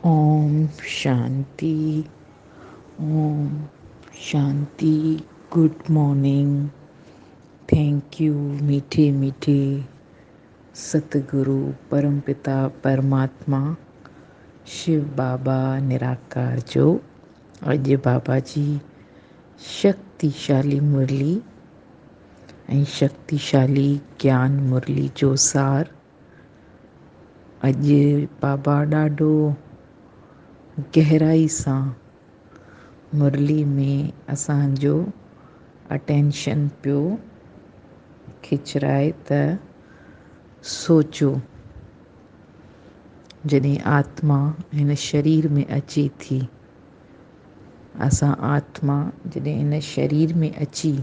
Om Shanti Om Shanti good morning thank you ميٺي ميٺي ست گرو پرم پتا پرماتما شو بابا نراڪار جو اڄ بابا جي شڪتي شالي مرلي ۽ شڪتي شالي گيان مرلي جو سار اڄ بابا ڏاڍو گهرائي سان مرلي ۾ اسان جو اٽينشن پيو کچرائي ته سوچو جڏهن آتما هن شرير ۾ اچي ٿي اسان آتما جڏهن هن شرير ۾ اچي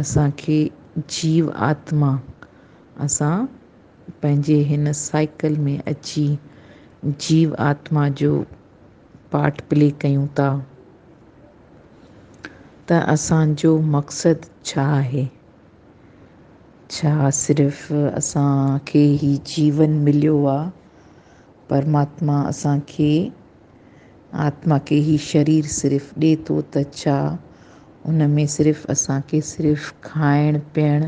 اسان کي جيو آتما اسان پنهنجي هن سائيڪل ۾ اچي جيو آتما جو پارٽ پلي ڪيون ٿا ته اسان جو مقصد ڇا آهي؟ ڇا صرف اسان کي هي جيون مليو آ؟ پرماتما اسان کي آتما کي هي شرير صرف ڏي ٿو ته ڇا ان ۾ صرف اسان کي صرف کائڻ پيئڻ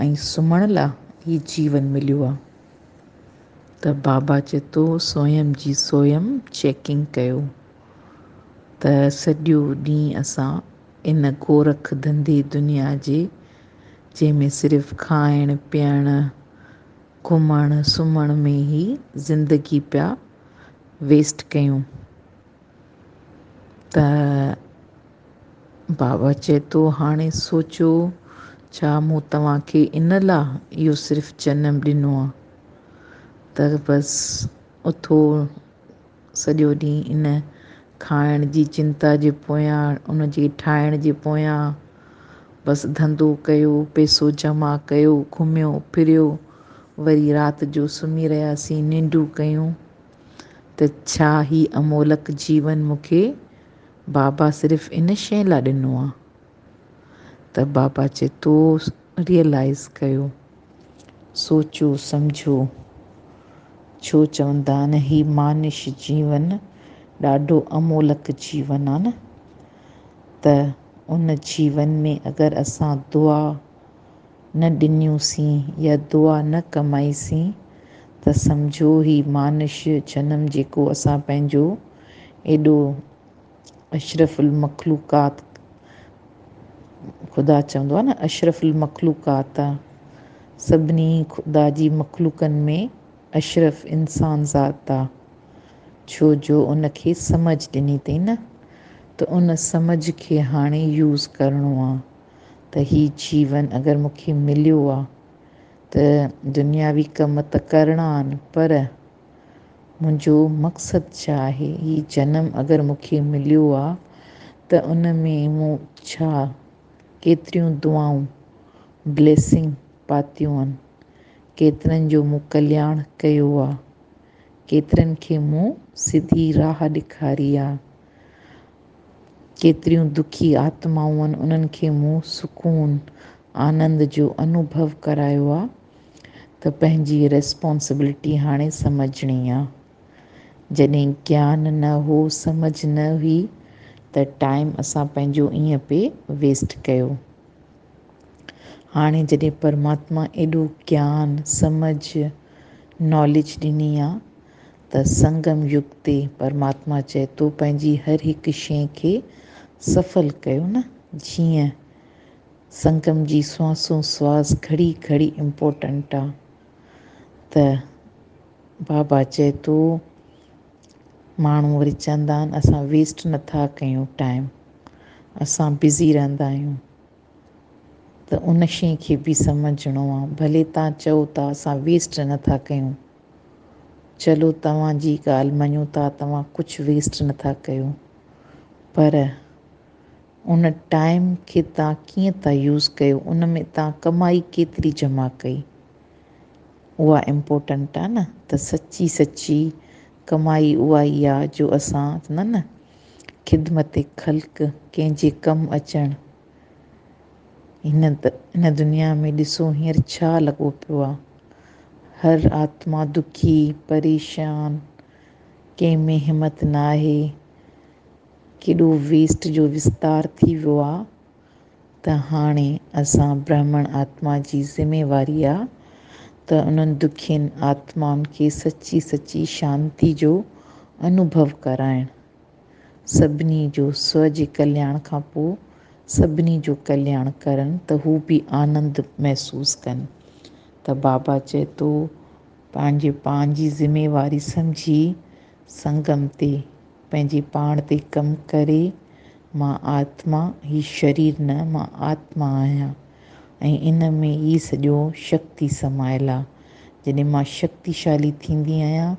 ۽ سمهڻ لا ئي جيون مليو آ ته بابا چتو سويم جي سويم چيڪنگ ڪيو ته سڄو ڏينهن اسان ان گورک ڌنڌي دنيا جي جنهن ۾ صرف کائڻ پيئڻ گهمڻ سمهڻ ۾ ئي زندگي پيا ويسٽ ڪيون ته بابا چئي ٿو، هاڻي سوچو، ڇا مون توهان کي ان لا اهو صرف جنم ڏنو آ ته بس اٿو سڄو ڏينهن ان کائڻ جي چنتا جي پويان، ان جي ٺاهڻ جي پويان بس ڌنڌو ڪيو، پئسو جمع ڪيو، گهميو ڦريو، وري رات جو سمهي رهياسين، ننڊون ڪيون ته ڇا هي امولڪ جيون مون کي بابا صرف ان شيء لا ڏنو آ ته بابا چي تو ريئلائيز ڪيو سوچو سمجهو ڇو چوندا آهن هي مانش جيون ڏاڍو امولڪ جيون آ نه ته ان جيون ۾ اگر اسان دعا نه ڏنيونسين يا دعا نه ڪمائيسين ته سمجهو هي مانش جنم جيڪو اسان پنهنجو ايڏو اشرف المخلوقات خدا چوندو آهي نه اشرف المخلوقات آ سڀني خدا جي مخلوقن ۾ اشرف انسان ذات آ ڇو جو ان کي سمجهه ڏني تئين نه ته ان سمجهه کي هاڻي يوز ڪرڻو آ. ته هي جيون اگر مون کي مليو آ ته دنياوي ڪم ته ڪرڻا آن پر منهنجو مقصد ڇا آهي؟ هي جنم اگر مون کي مليو آ ته ان ۾ مون ڇا ڪيتريون دعائون، Blessing، پاتيون آن؟ ڪيترن جو مون ڪلياڻ ڪيو آ؟ ڪيترن کي مون سڌي راهه ڏيکاري آ؟ ڪيتريون دکي آتمائون انهن کي مون سڪون آنند جو انوڀو ڪرايو آ ته پنهنجي ريسپانسبلٽي هاڻي سمجهڻي آ. جڏهن گيان نه هو سمجهه نه هئي ته ٽائيم اسان پنهنجو ائين پئي ويسٽ ڪيو. هاڻي جڏهن پرماتما ايڏو گيان، سمجهه، ناليج ڏني آ ته سنگم يگ تي پرماتما چئي ٿو پنهنجي هر هڪ شيء کي سڦل ڪيو نه جيئن سنگم جي سوانسون سواس گهڙي گهڙي امپورٽنٽ آ ته بابا چئي ٿو ماڻهو وري چوندا آهن اسان ويسٽ نٿا ڪيون ٽائيم اسان بزي رهندا آهيون ته ان شيء کي به سمجهڻو آ ڀلي تان چئو ٿا اسان ويسٽ نٿا ڪيون چلو توهان جي ڳالهه مڃون ٿا توهان ڪجهه ويسٽ نٿا ڪيو پر ان ٽائيم کي توهان ڪيئن ٿا يوز ڪيو ان ۾ توهان ڪمائي ڪيتري جمع ڪئي اها امپورٽنٽ آ نه ته سچي سچي ڪمائي اها ئي آ جو اسان نه نه خدمت خلق ڪنهن جي ڪم اچڻ هن هن دنيا ۾ ڏسو هينئر ڇا لڳو پيو آ. هر آتما دکي، پريشان، ڪنهن ۾ همت ناهي. ڪيڏو ويسٽ جو وستار ٿي ويو آ ته هاڻي اسان برهمڻ آتما جي ذميواري آ ته انهن دکين آتمائن کي سچي سچي شانتي جو انوڀو ڪرائڻ. سڀني جو سوء جي ڪلياڻ کان پوء سڀني جو ڪلياڻ ڪرن ته هو به آنند محسوس ڪن ته بابا چئي ٿو پنهنجي پان جي ذميواري سمجهي سنگم تي پنهنجي پاڻ تي ڪم ڪري مان آتما هي شرير نه مان آتما آهيان ۽ ان ۾ ئي سڄو شڪتي سمايل آ جڏهن مان شڪتيشالي ٿيندي آهيان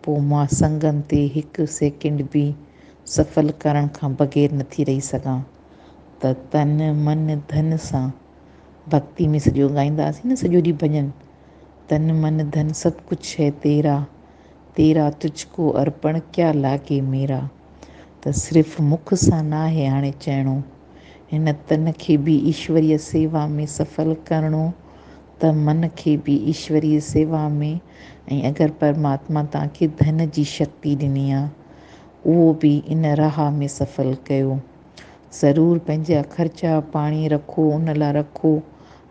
پوء مان سنگن تي هڪ سيڪنڊ به سفل ڪرڻ کان بغير نٿي رهي سگهان ته تن من ڌن سان ڀڳتي ۾ سڄو ڳائينداسين نه سڄو ڏينهن ڀڄن تن من ڌن سڀ ڪجهه هي تيرا تيرا تجھ ڪو ارپڻ ڪيا لاگي ميرا ته صرف مک سان ناهي هاڻي چئڻو هن تن کي به ايشوريه سيوا ۾ سفل ڪرڻو ته من کي به ايشوريء سيوا ۾، ۽ اگر پرماتما توهان کي ڌن جي شڪتي ڏني آ، اهو به ان راهه ۾ سڦل ڪيو. ضرور پنهنجا خرچا پاڻي رکو، ان لاء رکو،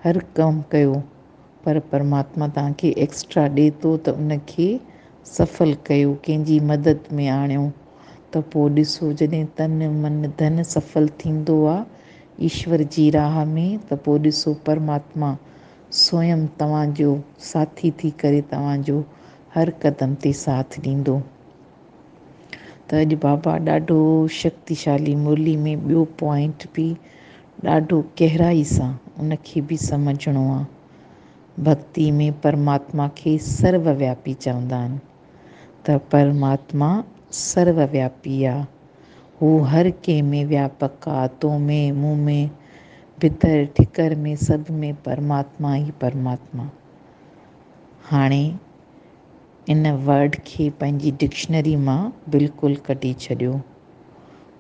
هر ڪم ڪيو، پر پرماتما توهان کي ايڪسٽرا ڏي ٿو ته ان کي سڦل ڪيو، ڪنهن جي مدد ۾ آڻيو، ته پوء ڏسو جڏهن تن، من، ڌن سڦل ٿيندو آ، ايشور جي راهه ۾ ته پوء ڏسو پرماتما سوئم توهان جو ساٿي ٿي ڪري توهان جو هر قدم تي ساٿ ڏيندو. ته اڄ بابا ڏاڍو شڪتيشالي مرلي ۾ ٻيو پوائنٽ به ڏاڍو گهرائي سان ان کي به سمجهڻو آ. ڀڳتي ۾ پرماتما کي سرو وياپي چوندا آهن. ته پرماتما سرو وياپي آ. هو هر ڪنهن ۾ وياپڪ آ، تو ۾، مون ۾، ڀتر، ٺڪر ۾، سڀ ۾ پرماتما ئي پرماتما. هاڻي ان ورڊ کي پنهنجي ڊڪشنري مان بلڪل ڪڍي ڇڏيو.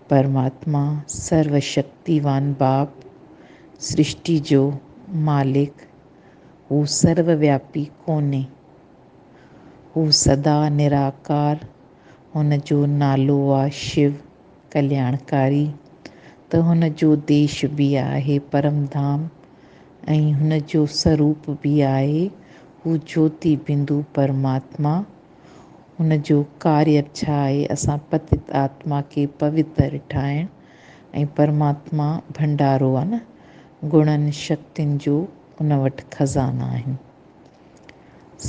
پرماتما سرو شڪتيوان باپ، سرشٽي جو مالڪ، هو سرو وياپي ڪونهي. هو سدا نراڪار، هن جو نالو آ شيو ڪلياڻڪاري ته هن جو ديش به آهي پرم ڌام ۽ هن جو سروپ به آهي هو جوتي بندو پرماتما هن جو ڪاري به ڇا آهي اسان پتت آتما کي پوتر ٺاهڻ ۽ پرماتما ڀنڊارو آ نه گڻن شڪتين جو ان وٽ خزانا آهن.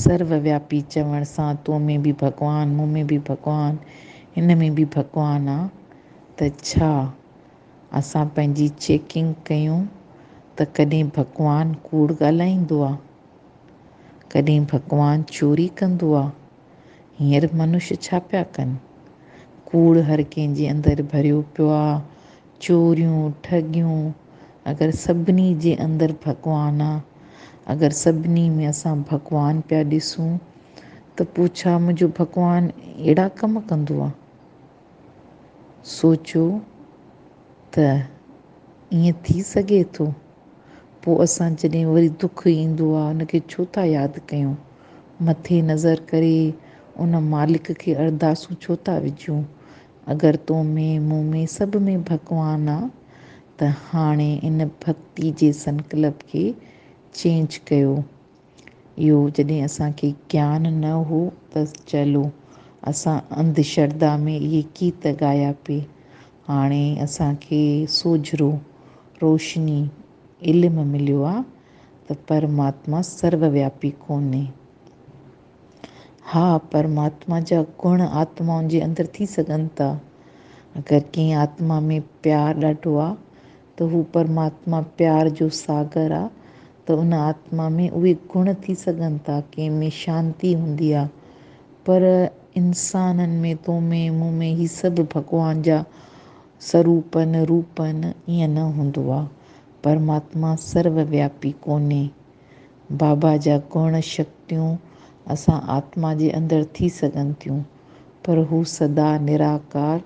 سرو وياپي چوڻ سان تو ۾ به ڀڳوان، مون ۾ به ڀڳوان، هن ۾ به ڀڳوان آ ته ڇا؟ اسان پنهنجي چيڪنگ ڪيون ته ڪڏهن ڀڳوان ڪوڙ ڳالهائيندو آ؟ ڪڏهن ڀڳوان چوري ڪندو آ؟ هينئر منش ڇا پيا ڪن؟ ڪوڙ هر ڪنهن جي اندر ڀريو پيو آ، چوريون، ٺڳيون، اگر سڀني جي اندر ڀڳوان آ، اگر سڀني ۾ اسان ڀڳوان پيا ڏسون ته پوء ڇا منهنجو ڀڳوان اهڙا ڪم ڪندو آ؟ سوچيو ته ائين ٿي سگهي ٿو؟ پوء اسان جڏهن وري دک ايندو آ ان کي ڇو ٿا ياد ڪيون؟ مٿي نظر ڪري ان مالڪ کي ارداسون ڇو ٿا وجهون؟ اگر تو ۾ مون ۾ سڀ ۾ ڀڳوان آ ته هاڻي ان ڀڳتي جي سنڪلپ کي چينج ڪيو. اهو جڏهن اسان کي گيان نه هو ته چلو اسان انڌ شرڌا ۾ اهي گيت ڳايا پي. هاڻي اسان کي سوجهرو، روشني، علم مليو آ ته پرماتما سروياپي ڪونهي. ها، پرماتما جا گڻ آتمائن جي اندر ٿي سگهن ٿا. اگر ڪنهن آتما ۾ پيار ڏاڍو آ ته هو پرماتما پيار جو ساگر آ ته ان آتما ۾ اهي گڻ ٿي سگهن ٿا. ڪنهن ۾ شانتي هوندي آ پر انسانن ۾ تو ۾ مون ۾ هي سڀ ڀڳوان جا سروپن، روپن، ائين نه هوندو آ. پرماتما سرو وياپي ڪونهي. بابا جا گڻ شڪتيون اسان آتما جي اندر ٿي سگهن ٿيون پر هو سدا نراڪار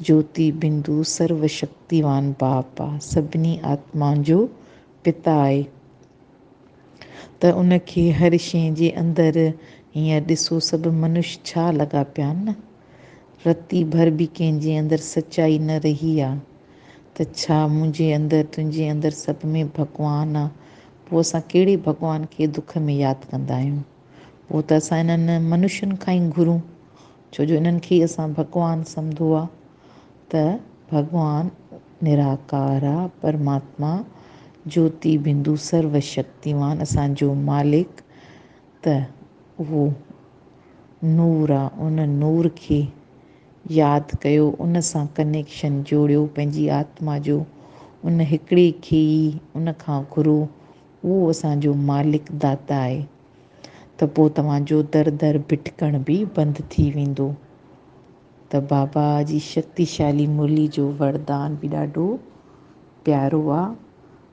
جوتي بندو سرو شڪتيوان باپ آ سڀني آتمان جو پتا آهي ته ان کي هر شي جي اندر هينئر ڏسو سڀ منش ڇا لڳا پيا آهن نه رتي ڀر به ڪنهن جي اندر سچائي نه رهي آ. ته ڇا منهنجي اندر تنهنجي اندر سڀ ۾ ڀڳوان آ؟ پوء اسان ڪهڙي ڀڳوان کي دک ۾ ياد ڪندا آهيون؟ پوء ته اسان انهن منشين کان ئي گهرون ڇو جو انهن کي ئي اسان ڀڳوان سمڌو آ ته ڀڳوان نراڪار آ پرماتما جوتي بندو سرو شڪتيوان اسان جو مالڪ ته اهو نور آ ان نور کي ياد ڪيو، ان سان ڪنيڪشن جوڙيو، پنهنجي آتما جو ان هڪڙي کي ئي ان کان گهرو، اهو اسان جو مالڪ داتا آهي، ته پوء توهان جو در در ڀٽڪڻ به بند ٿي ويندو. ته بابا جي شڪتيشالي مرلي جو وردان به ڏاڍو پيارو آ،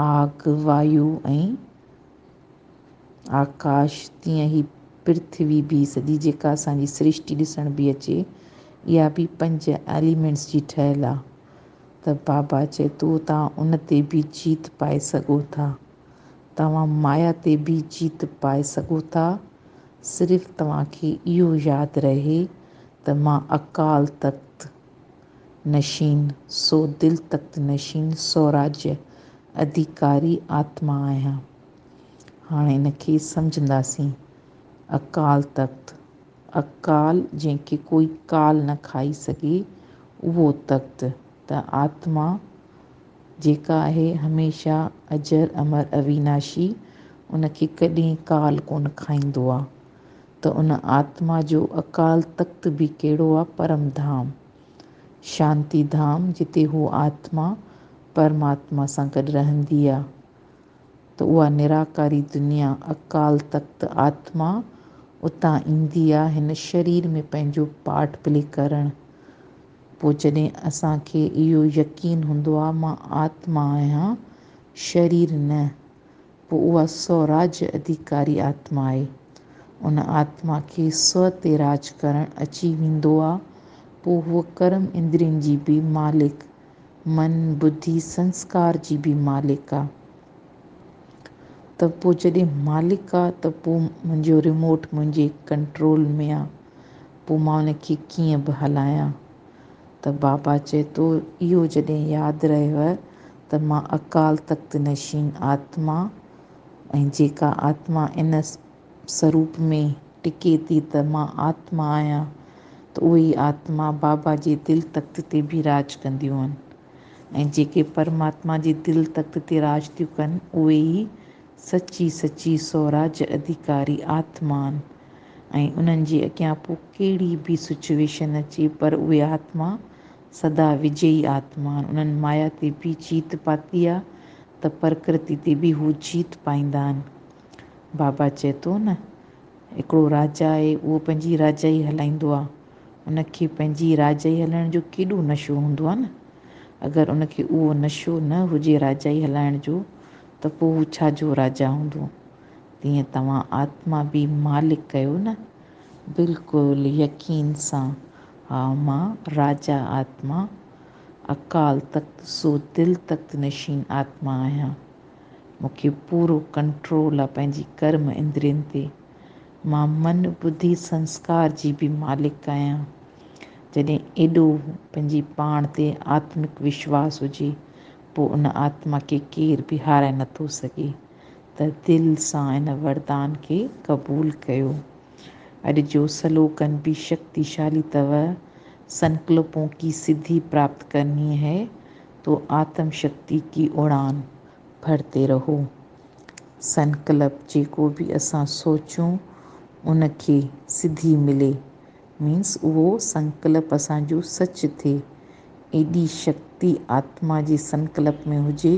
آگ، وايو ۽ آڪاش، تيئن هي پرٿوي به سڄي جيڪا اسان جي سرشٽي ڏسڻ به اچي، اها به پنج ايليمينٽس جي ٺهيل آ ته بابا چئي ٿو توهان ان تي به جيت پائي سگهو ٿا. توهان مايا تي به جيت پائي سگهو ٿا. صرف توهان کي اهو ياد رهي ته مان اڪال تخت. نشين سو دل تخت نشين سوراجيه اڌيڪاري آتما آهيان. هاڻ ان کي سمجهنداسين. اڪال تخت، اڪال جنهن کي ڪوئي ڪال نه کائي سگهي اهو تخت ته آتما جيڪا آهي هميشه اجر امر اويناشي ان کي ڪڏهن ڪال ڪونه کائيندو آ. ته ان آتما جو اڪال تخت به ڪهڙو آ پرم ڌام، شانتي ڌام، جتي هو آتما، پرماتما سان گڏ رهندي آ ته اها نراڪاري دنيا، اڪال تخت، آتما اتان ايندي آ هن شرير ۾ پنهنجو پارٽ پلي ڪرڻ. پوء جڏهن اسان کي اهو يقين هوندو آ مان آتما آهيان، شرير نه، پوء اها سوراج اڌيڪاري آتما آهي. ان آتما کي سو تي راج ڪرڻ اچي ويندو آ. پوء هوء ڪرم اندرين جي به مالڪ، من، بڌي، سنسڪار جي به مالڪ آ. ته پوء جڏهن مالڪ آ ته پوء منهنجو ريموٽ منهنجي ڪنٽرول ۾ آ. پوء مان ان کي ڪيئن به هلايان. ته بابا چئي ٿو اهو جڏهن ياد رهيو ته مان اڪال تخت نشين آتما ۽ جيڪا آتما ان سروپ ۾ ٽڪي ٿي ته مان آتما آهيان ته اهي ئي آتما بابا جي دل تخت تي به راڄ ڪنديون آهن ۽ جيڪي پرماتما جي دل تخت تي راڄ ٿيون ڪن اهي ئي سچي سچي سوراج اڌيڪاري آتما آهن. ۽ انهن جي اڳيان پوء ڪهڙي به سچويشن اچي پر اهي آتما سدا وجئي آتما آهن. انهن مايا تي به جيت پاتي آهي ته پرڪرتي تي به هو جيت پائيندا آهن. بابا چئي ٿو نه هڪڙو راجا آهي اهو پنهنجي راجائي هلائيندو آهي. ان کي پنهنجي راجائي هلائڻ جو ڪيڏو نشو هوندو آهي نه. اگر ان کي اهو نشو نه هجي راجائي هلائڻ جو ته پوء هو ڇا جو راجا هوندو. تيئن توهان آتما به مالڪ ڪيو نه؟ بلڪل يقين سان، ها مان راجا آتما، اڪال تخت سو دل تخت نشين آتما آهيان. مون کي پورو ڪنٽرول آ پنهنجي ڪرم اندرين تي. مان من، ٻڌي، سنسڪار جي به مالڪ آهيان. جڏهن ايڏو پنهنجي پاڻ تي آتمڪ وشواس هجي، پوء ان آتما کي ڪير به هارائي نٿو سگهي. ته دل سان ان وردان کي قبول ڪيو. اڄ جو سلوگن بي شڪتي شالي تؤ سنڪلپون ڪي سڌي پراپت ڪرني هي تو آتم شڪتي ڪي اڙان ڀرتي رهو. سنڪلپ جيڪو به اسان سوچون ان کي سڌي ملي مينس اهو سنڪلپ اسان جو سچ ٿئي. ايڏي شڪتي آتما جي سنڪلپ ۾ هجي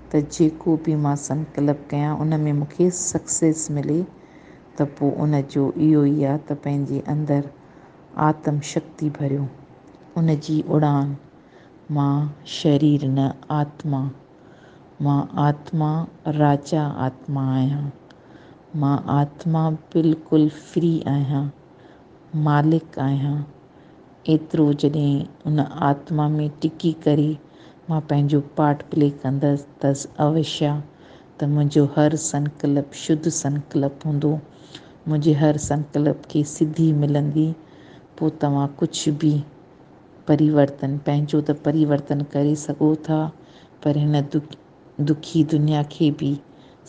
ته جيڪو به مان سنڪلپ ڪيان ان ۾ مون کي سڪسيس ملي ته پوء ان جو اهو ئي آ ته پنهنجي اندر آتم شڪتي ڀريو. ان جي اڙان مان شرير نه آتما. مان آتما راجا آتما آهيان. مان آتما بلڪل فري آهيان. مالڪ آهيان. ايترو جڏهن ان آتما ۾ ٽڪي ڪري مان پنهنجو پارٽ پلي ڪندس تس اوشيا ته منهنجو هر سنڪلپ شڌ سنڪلپ هوندو. منهنجي هر سنڪلپ کي سڌي ملندي. پوء توهان ڪجهه به پريورتن، پنهنجو ته پريورتن ڪري سگهو ٿا پر هن دکي دنيا کي به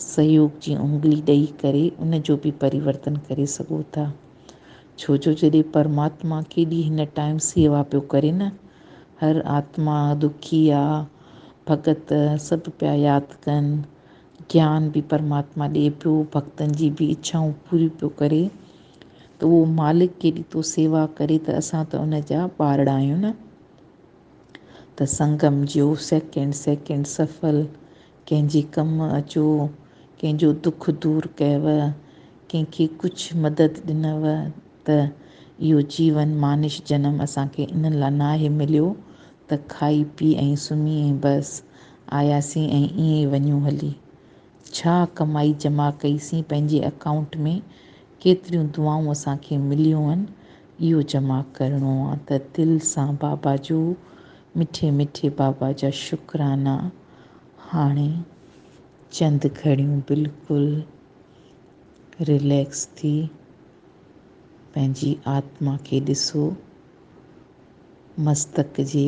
سهيوگ جي انگلي ڏئي ڪري ان جو به پريورتن ڪري سگهو ٿا. ڇو جو جڏهن پرماتما ڪيڏي هن ٽائيم سيوا پيو ڪري نه. هر آتما، دکيا، ڀڳت سڀ پيا ياد ڪن. گيان به پرماتما ڏئي پيو، ڀڳتن جي به اڇائون پوريون پيو ڪري. ته اهو مالڪ ڪيڏي تو سيوا ڪري ته اسان ته ان جا ٻارڙا آهيون نه. ته سنگم جيو سيڪنڊ سيڪنڊ سڦل، ڪنهن جي ڪم اچو، ڪنهن جو دک دور ڪيوء، ڪنهن کي ڪجهه مدد ڏنوء ته اهو جيون مانش جنم اسان کي ان لا ناهي مليو ته کائي پي ۽ سمهي ۽ بس آياسين ۽ ائين ئي وڃون هلي. ڇا ڪمائي جمع ڪئي سين پنهنجي اڪائونٽ ۾ ڪيتريون دعائون اسان کي مليون هن اهو جمع ڪرڻو آ ته دل سان بابا جو مٺي مٺي بابا جا شڪرانا هاڻي چند گهڙيون بلڪل رليڪس ٿي پنهنجي آتما کي ڏسو مستڪ جي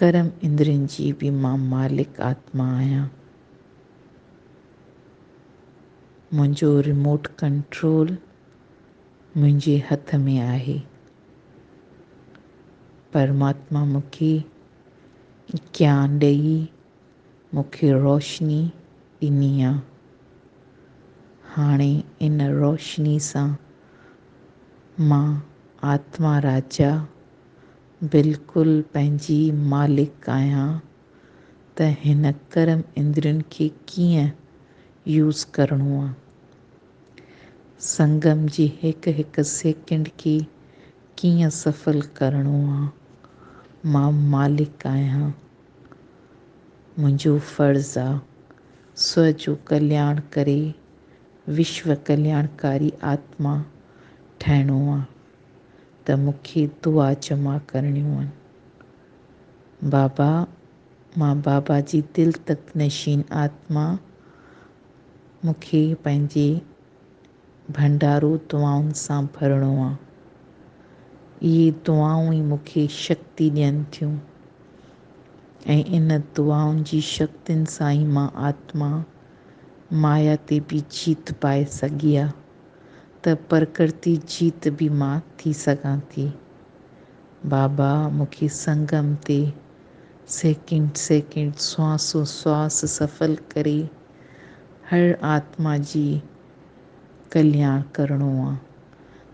ڪرم اندرين جي به مان مالڪ آتما آهيان. منهنجو ريموٽ ڪنٽرول منهنجي هٿ ۾ آهي. پرماتما مون کي گيان ڏئي مون کي روشني ڏني آ. هاڻي ان روشني سان مان آتما راجا بلڪل پنهنجي مالڪ آهيان ته هن ڪرم اندرين کي ڪيئن يوز ڪرڻو آ. سنگم جي هڪ هڪ سيڪنڊ کي ڪيئن سڦل ڪرڻو آ. مان مالڪ آهيان. منهنجو فرض آ سو جو ڪلياڻ ڪري وشو ڪلياڻڪاري آتما ٺهڻو آ. ته مون کي دعا جمع ڪرڻيون هن. بابا، مان بابا جي دل تخت نشين آتما، مون کي پنهنجي ڀنڊارو دعائن سان ڀرڻو آ. اهي دعائون ئي مون کي شڪتي ڏين ٿيون ۽ ان دعائن جي شڪتين سان ئي مان آتما مايا تي به جيت پائي سگهي آ. ته پرڪرتي جيت به مان ٿي سگهان ٿي. بابا مون کي سنگم تي سيڪنڊ سيڪنڊ سوانسو سواس سڦل ڪري هر آتما جي ڪلياڻ ڪرڻو آ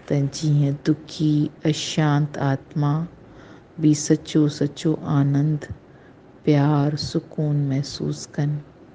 ته جيئن دکي اشانت آتما به سچو سچو آنند، پيار، سڪون محسوس ڪن.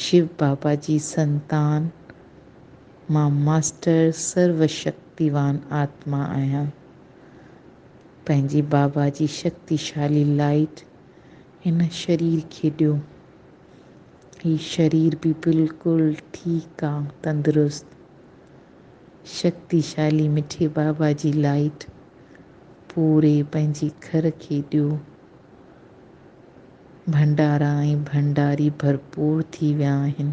شو بابا جي سنتان مان ماسٽر سرو شڪتيوان آتما آهيان. پنهنجي بابا جي شڪتيشالي لائيٽ هن شرير کي ڏيو. هي شرير به بلڪل ٺيڪ آ تندرست. شڪتيشالي مٺي بابا جي لائيٽ پوري پنهنجي گهر کي ڏيو. ڀنڊارا ۽ ڀنڊاري ڀرپور ٿي ويا آهن.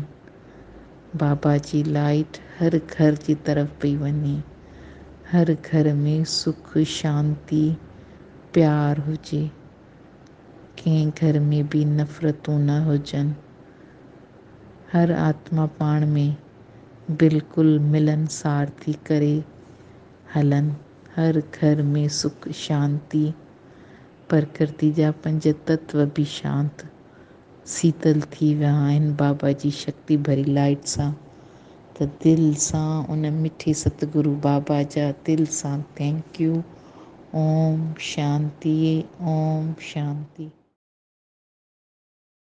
بابا جي لائيٽ هر گهر جي طرف پئي وڃي. هر گهر ۾ سک، شانتي، پيار هجي. ڪنهن گهر ۾ به نفرتون نه هجن. هر آتما پاڻ ۾ بلڪل ملنسار ٿي ڪري هلن. هر گهر ۾ سک، شانتي. پرڪرتي جا پنج تتو به شانت، سيتل ٿي ويا آهن بابا جي شڪتي ڀري لائيٽ سان ته دل سان ان مٺي ستگرو بابا جا دل سان thank you Om Shanti Om Shanti.